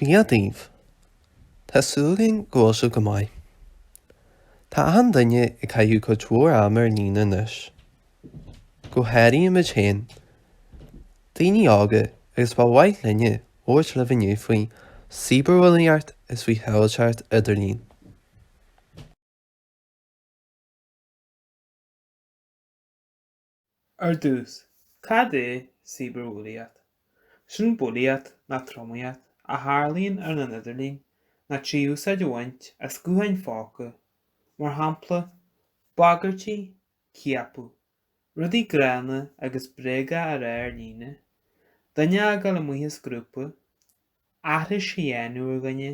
Dia daoibh. Tá súil againn go bhfuil sibh go maith. Tá achan duine ag caitheamh cuid mhór ama ar líne anois. Go háirithe muid féin, daoine óga agus ba mhaith linne labhairt libh inniu faoi cíbearbhulaíocht agus faoi shábháilteacht idirlín. Ar dtús, cad é cíbearbhulaíocht? Sin bulaíocht, nó tromaíocht, a tharlaíonn ar an idirlíon, nó trí úsáid a bhaint as gutháin póca, mar shampla, bagairtí, ciapadh, rudaí gránna agus bréaga a rá ar líne, duine a fhágáil amuigh as grúpa, aithris a dhéanamh ar dhuine,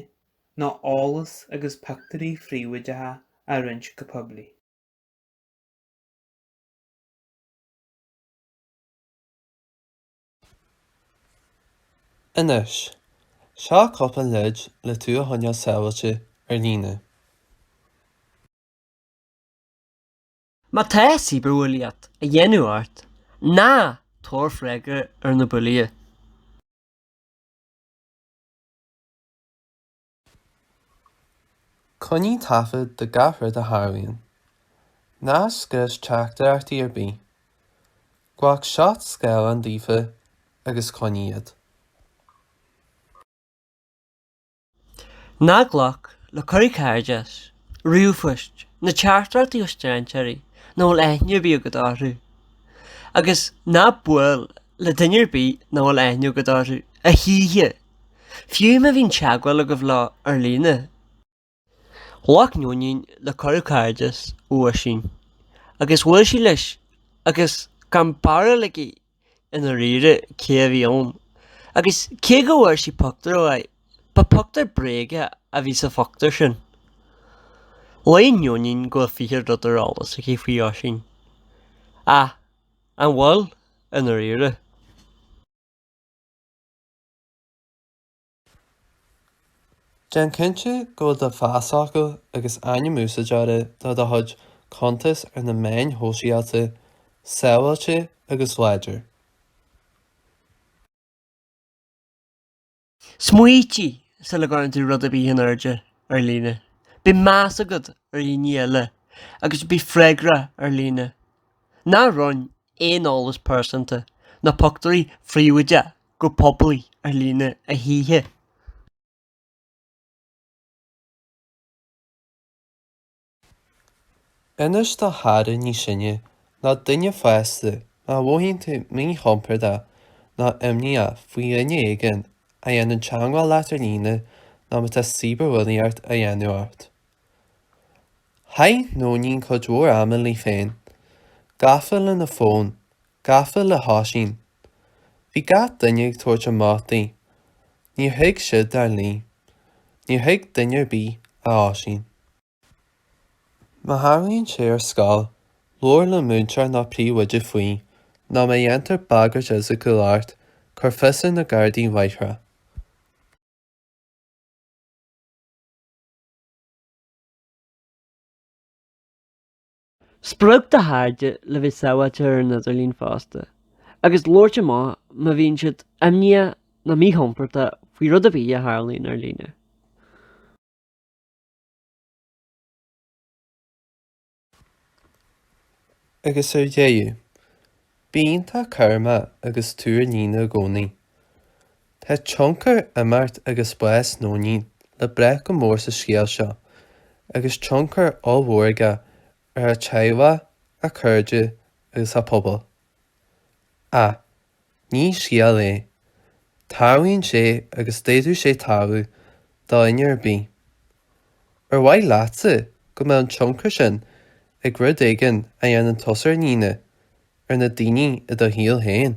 nó eolas agus pictiúirí príobháideacha a roinnt go poiblí. Anois, seo cúpla leid le tú a choinneáil sábháilte ar líne. Má tá cibearbhulaíocht á déanamh ort, ná tabhair freagra ar na bulaithe. Coinnigh taifead de gach rud a tharlaíonn. Ná scrios teachtaireachtaí ar bith. Glac seat scáileáin daofa agus coinnigh iad. Ná glac le cuirí cairdis, ríomhphoist, ná teachtaireachtaí ó strainséirí nach bhfuil aithne ar bith agat orthu. Agus ná buail le duine ar bith nach bhfuil aithne agat orthu, a choíche! Fiú má bhíonn teagmháil agaibh leo ar líne. Ghlac Nóinín le cuireadh cairdis ó Oisín agus bhuail sí leis agus gan barúil aici i ndáiríre cé a bhí ann agus cé go bhfuair sí pictiúr dá aghaidh, ba pictiúr bréige a bhí sa phictiúr sin. Síleann Nóinín go bhfuil fiche rud ar eolas aici faoi Oisín. Ach an bhfuil, i ndáiríre? Déan cinnte go bhfuil do phasfhocal agus ainm úsáideora do do chuid cuntas ar na meáin shóisialta sábháilte agus láidir. Smaoinigh sula gcuireann tú rud ar bith in airde ar líne. Bíodh meas agat ar dhaoine eile agus bí freagrach ar líne. Ná roinn aon eolas pearsanta ná pioctúirí phríobháideacha go poiblí ar líne a choíche. Inis do chara níos sine nó duine fásta má mhothaíonn tú míchompordach nó imníoch faoi dhuine éigin a dhéanann teagmháil leat ar líne nó má tá cibearbhulaíocht á dhéanamh ort. Chaith Nóinín cuid mhór ama léi féin, gafa lena fón, gafa le hOisín. Bhí gach duine ag tabhairt amach di. Níor thuig siad dar léi. Níor thuig duine ar bith, ach Oisín. Má tharlaíonn sé ar scoil, labhair le múinteoir nó príomhoide faoi, nó má dhéantar bagairt fhisiciúil ort, cuir fios ar na gardaí láithreach. Spreag do chairde le bheith sábháilte ar an idirlíon fosta, agus labhairt amach má bhíonn siad imníoch nó míchompordach faoi rud ar bith a tharlaíonn ar líne. Agus ar deireadh, bíodh tú cúramach agus tabhair aire i gcónaí. Tá tionchar imeacht agus bás Nóinín le brath go mór sa scéal seo agus tionchar ollmhór aige ar a teaghlach, a cairde agus a pobal. Ach ní scéal é. Tarlaíonn sé agus d'fhéadfadh sé tarlú do dhuine ar bith. Ar mhaith leatsa go mbeadh an tionchar sin ag rud éigin a dhéanann tusa ar dhaoine, ar na daoine i do shaol féin?